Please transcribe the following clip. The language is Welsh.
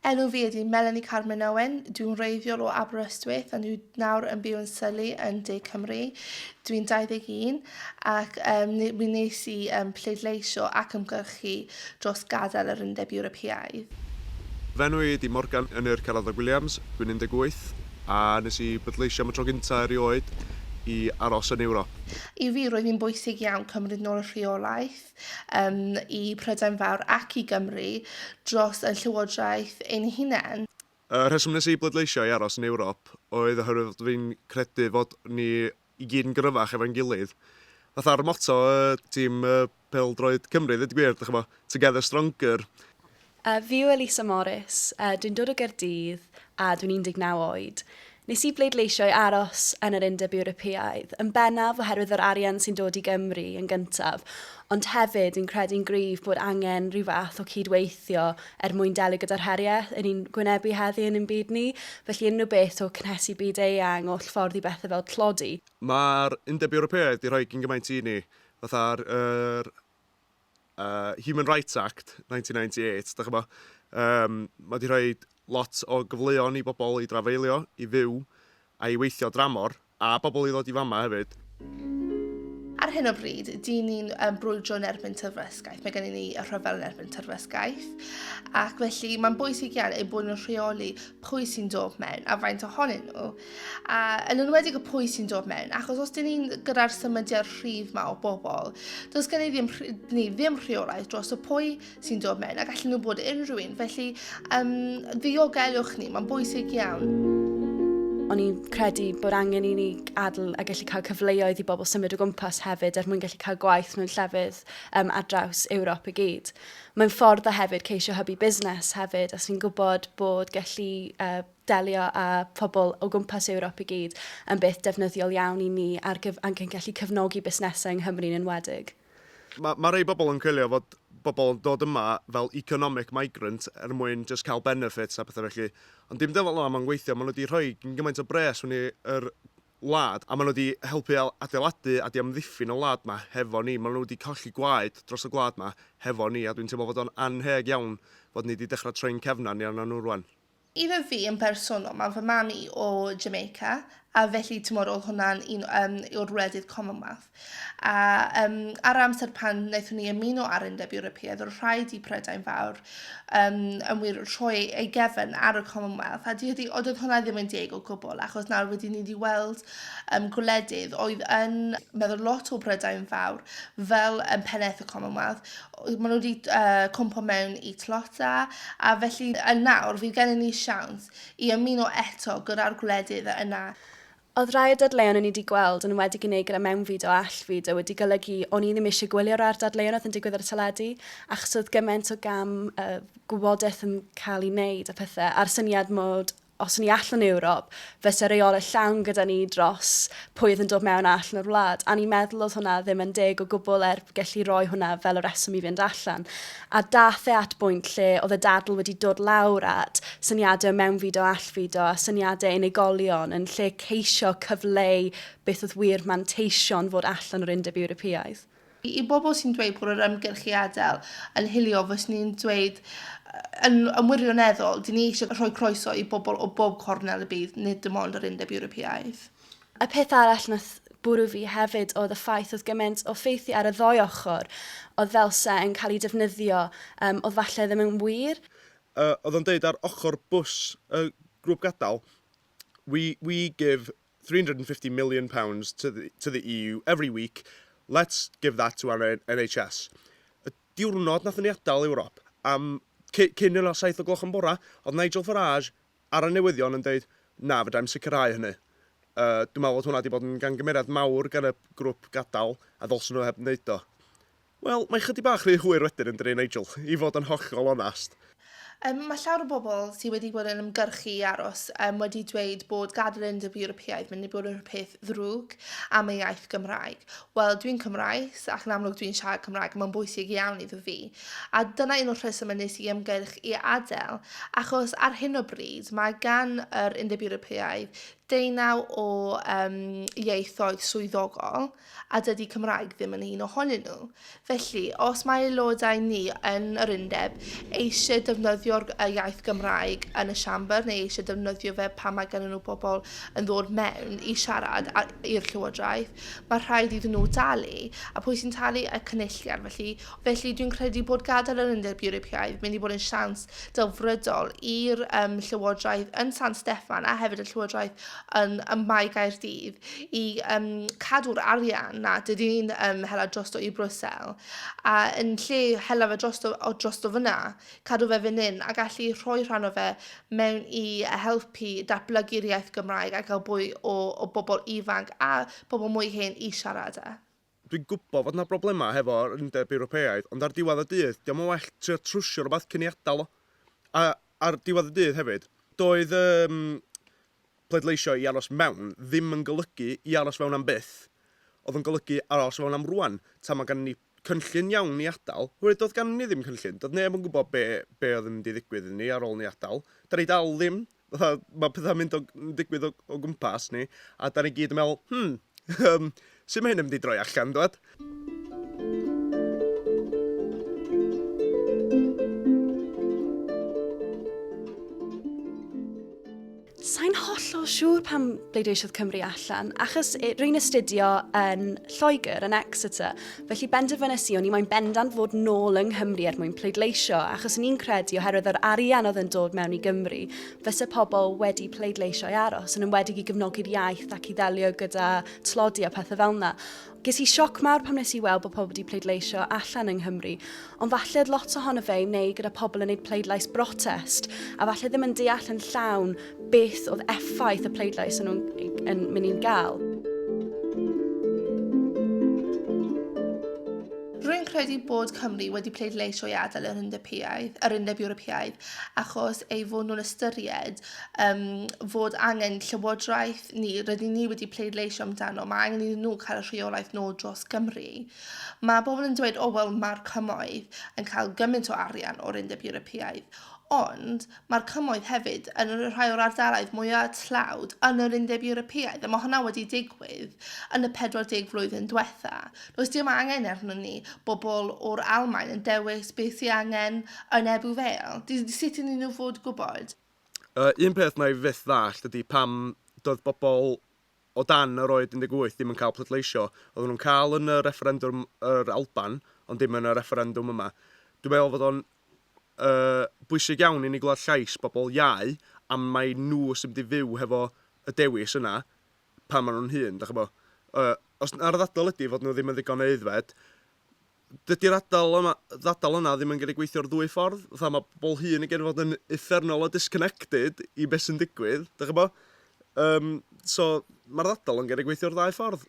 Enw fi ydy Melanie Carmen Owen, dwi'n wreiddiol o Aberystwyth a dwi nawr yn byw yn Surrey yn De Cymru. Dwi'n 21 ac um, mi nes i um, pleidleisio ac ymgyrchu dros gadael yr Undeb Ewropeaidd. Fy enw i ydy Morgan Ynyr Caradog Williams, dwi'n 18 a nes i bleidleisio am y tro gyntaf erioed i aros yn Ewrop. I fi roedd hi'n bwysig iawn cymryd nôl y rheolaeth um, i Prydain Fawr ac i Gymru dros y Llywodraeth ein hunain. Y rheswm nes i bleidleisio i aros yn Ewrop oedd oherwydd fod fi'n credu fod ni i gyd yn gryfach efo'n gilydd. Fatha'r motto y tîm pêl-droed Cymru, ddweud gwir, ddech chi'n Together Stronger. A, fi yw Elisa Morris, a dwi'n dod o Gaerdydd, a dwi'n 19 oed. Nes i bleidleisio i aros yn yr Undeb Ewropeaidd, yn bennaf oherwydd yr arian sy'n dod i Gymru yn gyntaf, ond hefyd dwi'n credu'n gryf bod angen rhyw fath o cyd-weithio er mwyn delio gyda'r heriau yn ni'n gwynebu heddi yn ein byd ni, felly unrhyw beth o cynhesu byd eang, oll ffordd i bethau fel tlodi. Mae'r Undeb Ewropeaidd 'di rhoi cyn gymaint i ni, fatha'r yr uh, Human Rights Act 1998, da chybod, um, mae wedi rhoi lot o gyfleon i bobl i drafeilio, i fyw, a i weithio dramor, a bobl i ddod i fama hefyd. Ar hyn o bryd, dyn ni'n um, brwydro yn erbyn tyrfresgaeth. Mae gennym ni y rhyfel yn erbyn tyrfresgaeth. Ac felly, mae'n bwysig iawn ei bod yn rheoli pwy sy'n dod mewn a faint ohonyn nhw. A yn enwedig y pwy sy'n dod mewn, achos os dyn ni'n gyda'r symudiad rhif ma o bobl, does gen i ddim, ni ddim rheolaeth dros y pwy sy'n dod mewn ac allan nhw bod unrhyw un. Felly, um, ddiogelwch ni, mae'n bwysig iawn. O'n i'n credu bod angen i ni adl a gallu cael cyfleoedd i bobl symud o gwmpas hefyd er mwyn gallu cael gwaith mewn llefydd um, ar draws Ewrop i gyd. Mae'n ffordd o hefyd ceisio hybu busnes hefyd, a sy'n gwybod bod gallu uh, delio â phobl o gwmpas Ewrop i gyd yn beth defnyddiol iawn i ni ar gyf ac yn gallu cefnogi busnesau yng Nghymru'n enwedig. Mae ma rhai bobl yn coelio fod bobl yn dod yma fel economic migrant er mwyn jyst cael benefits a pethau felly, ond dim dyfel yna mae'n gweithio, maen nhw wedi rhoi gymaint o bres mewn i'r wlad a maen nhw wedi helpu adeiladu a diamddiffyn y wlad yma hefo ni, maen nhw wedi colli gwaed dros y gwlad yma hefo ni a dwi'n teimlo fod o'n annheg iawn fod ni wedi dechrau troi'n cefn arnyn nhw rwan. Iddo fi yn bersonol, mae fy mam i o Jamaica, a felly tymor oedd hwnna'n un um, yw'r wledydd Commonwealth. A um, ar amser pan wnaethon ni ymuno ar Undeb Ewropeaidd, oedd rhaid i Prydain Fawr um, yn wir rhoi ei gefn ar y Commonwealth, a dydy, oedd hwnna ddim yn deg o gwbl, achos nawr wedi ni wedi weld um, gwledydd oedd yn meddwl lot o Prydain Fawr fel um, pennaeth y Commonwealth, Maen nhw 'di yy cwmpo mewn i Tlota, a felly yn nawr fydd gennym ni siawns i ymuno eto gyda'r gwledydd yna. Oedd rhai o'r dadleuon o'n i 'di gweld yn enwedig yn Eger a Mewnfyd o Allt Fyd a wedi golygu o'n i ddim eisiau gwylio'r ar dadleuon oedd yn digwydd ar y teledu achos oedd gymaint o gam yy gwybodaeth yn cael ei wneud a pethau a'r syniad mod Os o'n i allan o Ewrop, fyse reolaeth llawn gyda ni dros pwy oedd yn dod mewn a allan o'r wlad, a o'n i'n meddwl oedd hwnna ddim yn deg o gwbl er gelli roi hwnna fel y rheswm i fynd allan. A daeth e at bwynt lle oedd y dadl wedi dod lawr at syniadau o mewnfudo a allfudo a syniadau unigolion yn lle ceisio cyfleu beth oedd wir manteision fod allan o'r Undeb Ewropeaidd. I bobl sy'n dweud bod yr ymgyrch i adael yn hiliol, fyswn i'n dweud, yn yn wirioneddol, dyn ni eisiau rhoi croeso i bobl o bob cornel y byd, nid dim ond yr Undeb Ewropeaidd. Y peth arall wnaeth bwrw fi hefyd oedd y ffaith oedd gymaint o ffeithiau ar y ddou ochr oedd felse yn cael eu defnyddio yym oedd falle ddim yn wir. Yy oedd o'n deud ar ochr bws y grŵp gadael, we we give £350 million to the, to the EU every week, let's give that to our NHS. Y diwrnod nathon ni adael Ewrop, am cyn yna 7 o gloch yn bora, oedd Nigel Farage ar y newyddion yn dweud, na, fydra i'n sicrhau hynny. Uh, dwi'n meddwl bod hwnna wedi bod yn gangymeriad mawr gan y grwp gadael a ddolsyn nhw heb wneud o. Wel, mae chydig bach rhy hwyr wedyn yndydi, Nigel? I fod yn hollol onast. Yym, mae llawer o bobl sydd wedi bod yn ymgyrchu i aros yym wedi dweud bod gadael yn Undeb Ewropeaidd mynd i bod yn peth ddrwg am ei iaith Gymraeg. Wel, dwi'n Cymraes ac yn amlwg dwi'n siarad Cymraeg a mae'n bwysig iawn iddo fi. A dyna un o'r rhesymau wnes i ymgyrch i adael, achos ar hyn o bryd mae gan yr Undeb Ewropeaidd deunaw o yym ieithoedd swyddogol, a dydy Cymraeg ddim yn un ohonyn nhw. Felly, os mae aelodau ni yn yr undeb eisiau defnyddio'r iaith Gymraeg yn y Siambr neu eisiau defnyddio fe pan mae gennyn nhw bobl yn ddod mewn i siarad i'r Llywodraeth, mae rhaid iddyn nhw dalu. A pwy sy'n talu? Y Cynulliad. Felly, felly dwi'n credu bod gadael yr Undeb Ewropeaidd mynd i bod yn siawns delfrydol i'r um, Llywodraeth yn San Steffan a hefyd y Llywodraeth yn, ym Mae Gaerdydd i yym cadw'r arian 'na, dydy hi'm yn hela drosto i Brussels, a yn lle hela fe drosto o drosto fan'na, cadw fe fan hyn a gallu rhoi rhan o fe mewn i helpu datblygu'r iaith Gymraeg a gael mwy o o bobl ifanc a pobl mwy hen i siarad e. Dwi'n gwybod fod 'na broblemau hefo'r Undeb Ewropeaidd, ond ar diwedd y dydd, 'di o'm yn well trio trwsio rywbeth cyn ei adael o? A ar diwedd y dydd hefyd, doedd yym pleidleisio i aros mewn ddim yn golygu i aros fewn am byth, oedd o'n golygu aros fewn am rŵan, tan mae ganddo ni cynllun iawn i adael, oherwydd doedd ganddo ni ddim cynllun, doedd neb yn gwybod be be oedd yn mynd i ddigwydd iddo ni ar ôl ni adael, 'dan ni dal ddim. fatha, mae pethau'n mynd o, yn digwydd o, o gwmpas ni, a da ni gyd yn meddwl, hmm, um, sut mae hyn yn mynd i droi allan, dwed? Sa'n hollol siŵr pam bleidleisiodd Cymru allan, achos rwy'n astudio yn Lloegr, yn Exeter, Felly benderfynes i o'n i moyn bendant fod nôl yng Nghymru er mwyn pleidleisio, achos o'n i'n credu oherwydd yr arian oedd yn dod mewn i Gymru, fyse pobl wedi pleidleisio i aros, yn enwedig i gefnogi'r iaith ac i ddelio gyda tlodi a pethau fel yna. Ges i sioc mawr pam nes i weld bod pobl wedi pleidleisio allan yng Nghymru, Ond falle oedd lot ohono fe i wneud gyda pobl yn neud pleidlais brotest, a falle ddim yn deall yn llawn beth oedd effaith y pleidlais yn nhw'n yn mynd i'n gael. Rwy'n credu bod Cymru wedi pleidleisio i adael yr Undepiaidd, yr Undeb Ewropeaidd, achos ei fod nhw'n ystyried um, fod angen llywodraeth ni, rydyn ni wedi pleidleisio amdano, mae angen iddyn nhw cael y rheolaeth nôl dros Gymru. Mae pobl yn dweud, o wel mae'r cymoedd yn cael gymaint o arian o'r Undeb Ewropeaidd, ond mae'r cymoedd hefyd yn rhai o'r ardaloedd mwyaf tlawd yn yr Undeb Ewropeaidd, a mae hwnna wedi digwydd yn y 40 flwyddyn diwetha'. Does dim angen arnon ni bobl o'r Almaen yn dewis beth sy' angen yn Ebbw Vale. D- sut ydyn nhw'n fod gwybod? Yr un peth wna i fyth ddallt ydy pam doedd bobl o dan yr oed 18 ddim yn cael pleidleisio. Oedden nhw'n cael yn y refferendwm yr Alban, ond dim yn y refferendwm yma. Dwi'n meddwl fod o'n uh, bwysig iawn i ni glywed llais bobl iau am mai nhw sy'n mynd i fyw hefo y dewis yna pan maen nhw'n hun, da chi bo. Uh, os ar y ddadl ydy fod nhw ddim yn ddigon aeddfed, dydy'r adal yma, ddadl yna ddim yn gallu gweithio'r ddwy ffordd. Fatha mae pobl hŷn yn gallu fod yn uffernol o disconnected i beth sy'n digwydd, dych chi'n gwybod? Yym, so, mae'r ddadl yn gallu gweithio'r ddau ffordd.